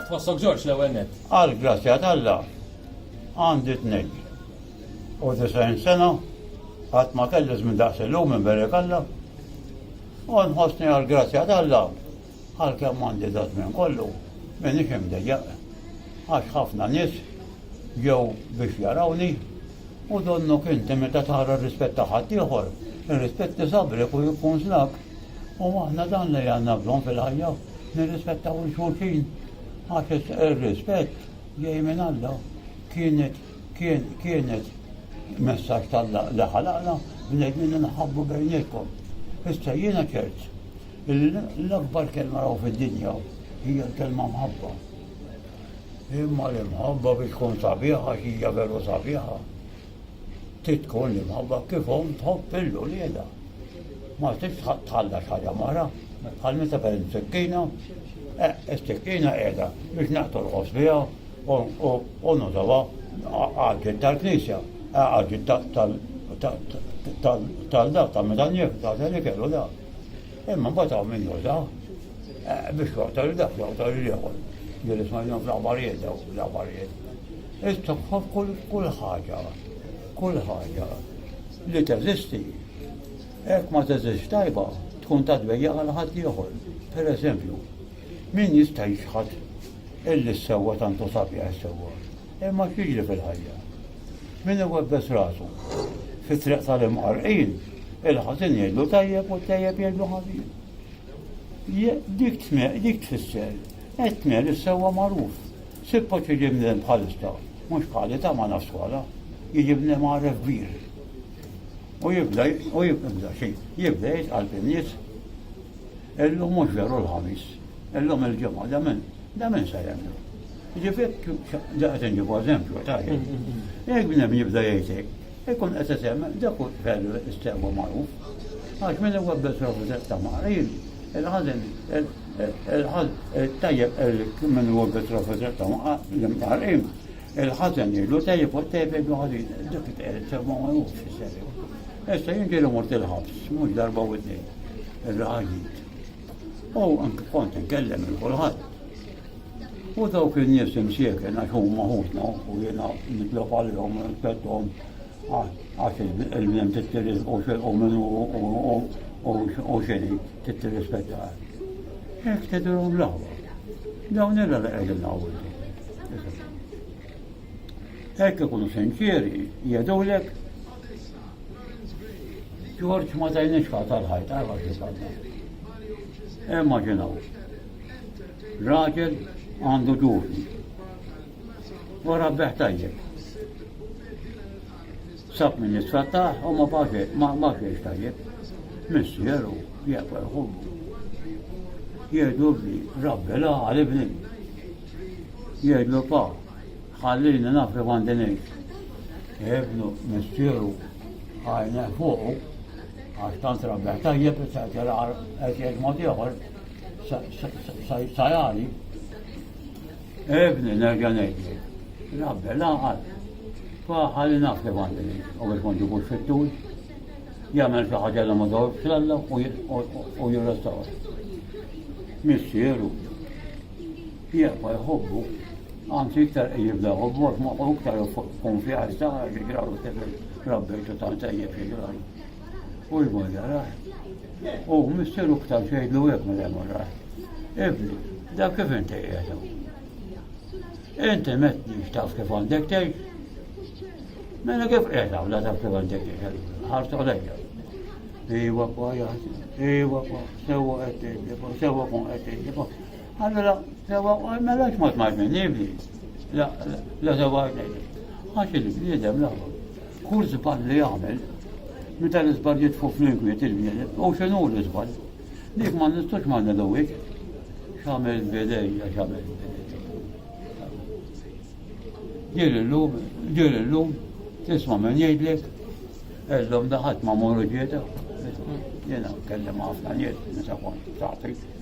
Kif tħossok Ġorġ l-ewwel net? Għal grazzja t'Alla għandi tnej. U disajn sena għat ma kelli żmien daqs illum minn berek Alla. U nħossni għal grazzja t'Alla għal kemm għandi da żmien kollu minn ixim dejjaq. Għax ħafna nies jew biex jarawni u donnu kinti meta tara rispetta ħaddieħor, ir-rispett nisabri u jkun znak. U aħna dan li għandna bżonn fil-ħajja, nirrispettaw lil xulxin. Għax ir-rispett ġej minn Alla. Kienet kienet messaġġ t'Alla li ħalaqna bnedmin li nħabbu bejnietkom. Issa jiena ċert illi l-akbar kelma raw fid-dinja hija l-kelma mħabba. Imma l-imħabba biex tkun sabiħa x'hija veru sabiħa. Titkun li mħabba kif omm tħobb il ulieda Ma tix tħalla xaġa mara, bħal meta kellem sekkina, eh, is-sekkina qiegħda biex naqtu l-ħoss biha u nużawha għaġġet tal-knisja, eh, għaġġet tal-dak ta' meta njef, ta' li kellu dak. Imma mbagħad hawn min juża eh, biex joqtol dak joqtol l-ieħor. Ġieli smajna fl-aħbarijiet daw l-aħbarijiet. It-toħħob kull ħaġa, kull ħaġa li teżisti. Hekk ma teżist tajba tkun ta' dbejja għal ħadd ieħor. Per eżempju, min jista' jixħat illi s-sewwa tantu sabja s-sewwa. Imma x'jiġri fil-ħajja? Min iwebbes rasu fit-triq tal-imqarrqin, il-ħażin jgħidlu tajjeb u t-tajjeb jgħidlu ħażin. Dik tme, dik tfisser, et tme li s-sewwa magħruf. Sippo ċiġi mden bħalista, mhux bħali ta' ma naswala, jiġi mden għaref kbir. U jibda, u jibda xejn, jibda jitqal fin-nies. Illum mhux veru l-Ħamis, illum il-Ġimgħa, da min, da min se jemmnu? Jiġifieri, da qed inġibu eżempju, tajjeb. Jekk bnedmin jibda jgħid hekk, ikun qed isemmi dak hu veru s-sewwa magħruf. Għax min iwebbes ruħu daqs ta' maħrib, il-ħażen, il-ħaż, it-tajjeb il min iwebbes ruħu daqs ta' l-imqarqin, il-ħażen jgħidlu tajjeb u t-tajjeb jgħidlu ħażin, dak it-sewwa magħruf fis-serju. Issa jien ġieli mort il-ħabs, mhux darba u tnejn. ir-raħaġit. U anke kont inkellem il kulħadd. U dawk in-nies imsieken għax huma ħutna u jiena nitlob għalihom nitlob għax il-bnem tittiris u xilqu minnu u xini tittirrispetta. Hekk tedrom l-għawa. Dawn illa li qegħdin għawdu. Hekk ikunu sinċieri, jgħidulek Ġorġ ma tajniex każ tal-ħajt, għarfa xi każ. Immaġinaw. Raġel għandu ġurni. Wara beħ tajjeb. Sab minn nisfattaħ u ma baġe, ma baġex tajjeb. Missier u jaqbel ħubbu. Jgħidu li rabbi la għal ibni. Jgħidu pa, Ħallini naf li għandi ngħix. Ibnu missieru għajna fuqu għax tant rabbeħ tajjeb issa qed jilgħar qed jgħid mod ieħor sajali. Ibni nerġa' ngħidli. Rabbe laqgħad. Fa ħalli naf li għandi ngħix u biex ma ġibux fit-tul jagħmel xi ħaġa li ma dawx l-alla u jirrestawr. Missieru, Jekk ma jħobbu, anzi iktar jibda jħobbu, ma u iktar konfjaż ta' li graw tefel rabbejtu ta' tajjeb li graw. U jmorja raħ. U misteru iktar xejdlu jek ma jemur raħ. Ibni, da kif inti jgħedu? Inti metni xtaf kif għandek tgħix? Mela kif qiegħda wla taf kif għandek tgħix? Ħarsu għalejja. Iwa kwa jaħdi, iwa kwa, sewa qed sewa kun qed Allora, sewa, mela x'mod ma jminnibli. La, la sewa Għax il-bniedem la. Kull żball li jagħmel, meta l-iżball jitfu fl-inkwiet il-bniedem, u x'inhu l-iżball? Dik ma nistgħux ma nilgħuwiex. X'għamel bidejja, x'għamel Ġir illum, ġir illum, tisma' minn jgħidlek, illum daħat ma' morru ġieta. Jena kellem ħafna nies, nisa kont taħtik.